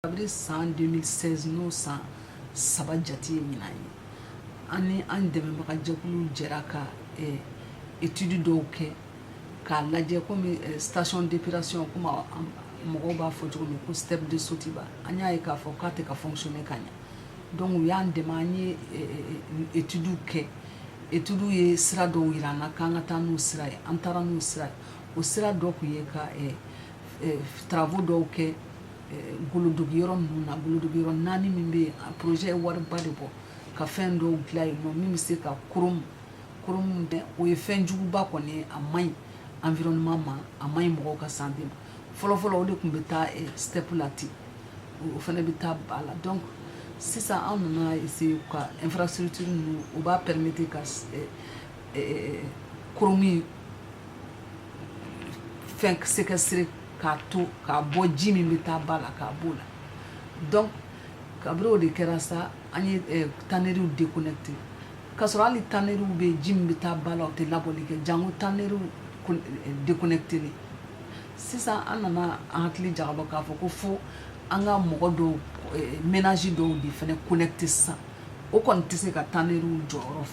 kabiri san 2016 n'o san saba jate ye ɲinan ye an ni an dɛmɛbaga jɛkuluw jɛra ka eh, etudi dɔw kɛ k'a lajɛ komi eh, station d'épuration komi mɔgɔw b'a fɔ cogo min ko step de sotuba an y'a ye k'a fɔ k'a tɛ ka fonctionner ka ɲɛ donc u y'an dɛmɛ an ye etudiw kɛ etudiw ye sira dɔw yira an na k'an ka taa n'u sira ye an taara n'u sira ye o sira dɔ tun ye ka travaux dɔw kɛ goloduguyɔrɔ ninnu na goloduguyɔrɔ naani min bɛ projet ye wariba de bɔ ka fɛn dɔw dilan yen min bɛ se ka k tɛ o ye fɛnjuguba kɔni a man ɲi environnement ma a man ɲi mɔgɔw ka santé ma fɔlɔfɔlɔ o de tun bɛ taa step la ten o fana bɛ taa ba la donc sisan an nana essayer ka infrastructure ninnu u b'a permettre ka chrome fɛn sɛsirire k'a to k'a bɔ ji min bɛ taa ba la k'a b'o la donc kabiri o de kɛra sa an ye eh, taneriw déconnecté k'a sɔrɔ hali taneriw bɛ ji min bɛ taa ba la o tɛ labɔli kɛ janko taneriw eh, déconnecté de sisan an nana an hakili jagabɔ k'a fɔ ko fo an ka mɔgɔ dɔw eh, ménage dɔw de fana connecté sisan o kɔni tɛ se ka taneriw jɔyɔrɔ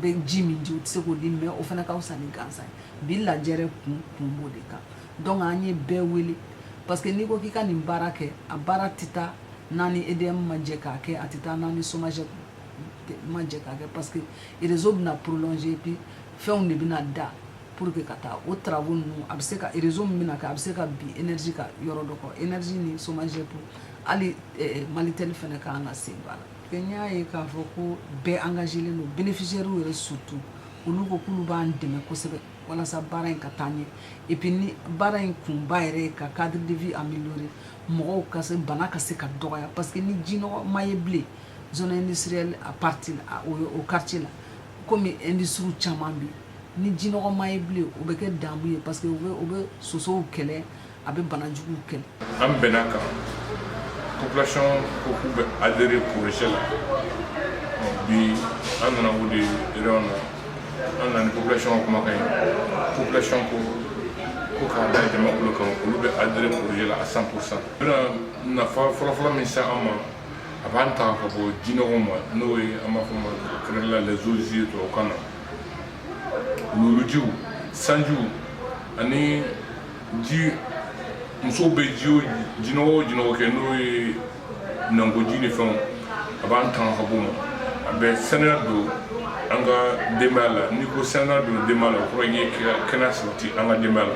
bɛ ji min di o tɛ se k'o di mais o fana ka fisa ni gansan ye bi lajɛrɛ kun kun b'o de kan donc an ye bɛɛ wele parce que n'i ko k'i ka nin baara kɛ a baara tɛ taa n'a ni edm ma jɛ k'a kɛ a tɛ taa n'a ni somagep ma jɛ k'a kɛ parce que réseau bɛna prolonger puis fɛnw de bɛna da pour que ka taa o travaux ninnu a bɛ se ka réseau min bɛna kɛ a bɛ se ka bin énergie ka yɔrɔ dɔ kan énergie ni somagep fo hali eh, malitel fana ka kan k'a sen don a la que n y'a ye k'a fɔ ko bɛɛ engagelen don bénéficiaires yɛrɛ surtout olu ko k'olu b'an dɛmɛ kosɛbɛ walasa baara in ka taa ɲɛ et puis nin baara in kunba yɛrɛ ye ka cadre de vie améliorer mɔgɔw ka bana ka se ka dɔgɔya parce que ni jinɔgɔ ma ye bilen zone industrielle a partie la o quartier la komi industrie caman bɛ ni jinɔgɔ ma ye bilen o bɛ kɛ damu ye parce que o bɛ o bɛ sosow kɛlɛ a bɛ bana juguw kɛlɛ an bɛnn'a kan population ko k'u bɛ adhérer projet la ɔ bi an nana o de réunion na an nana ni population ka kumakan ye population ko ko k'a da jama tulo kan olu bɛ adhérer projet la à 100 pour cent bɛna nafa fɔlɔfɔlɔ min se an ma a b'an tanga ka bɔ jinɔgɔw ma n'o ye an b'a fɔ ma kɛrɛnkɛrɛn la les eaux usées tubabukan na wuluwulujiw sanjiw ani ji musow bɛ ji o jinɔgɔ o jinɔgɔ kɛ n'o ye minankoji ni fɛnw a b'an tanga ka bɔ o ma a bɛ saniya don an ka denbaya la n'i ko saniya don denbaya la o kɔrɔ ye kɛnɛya sabati an ka denbaya la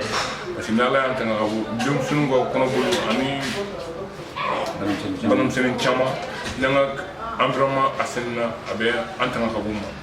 parce que ni ala y'an tanga ka bɔ denmisɛnninw ka kɔnɔboli ani banamisɛnnin caman n'an ka environnement assainina a bɛ an tanga ka bɔ o ma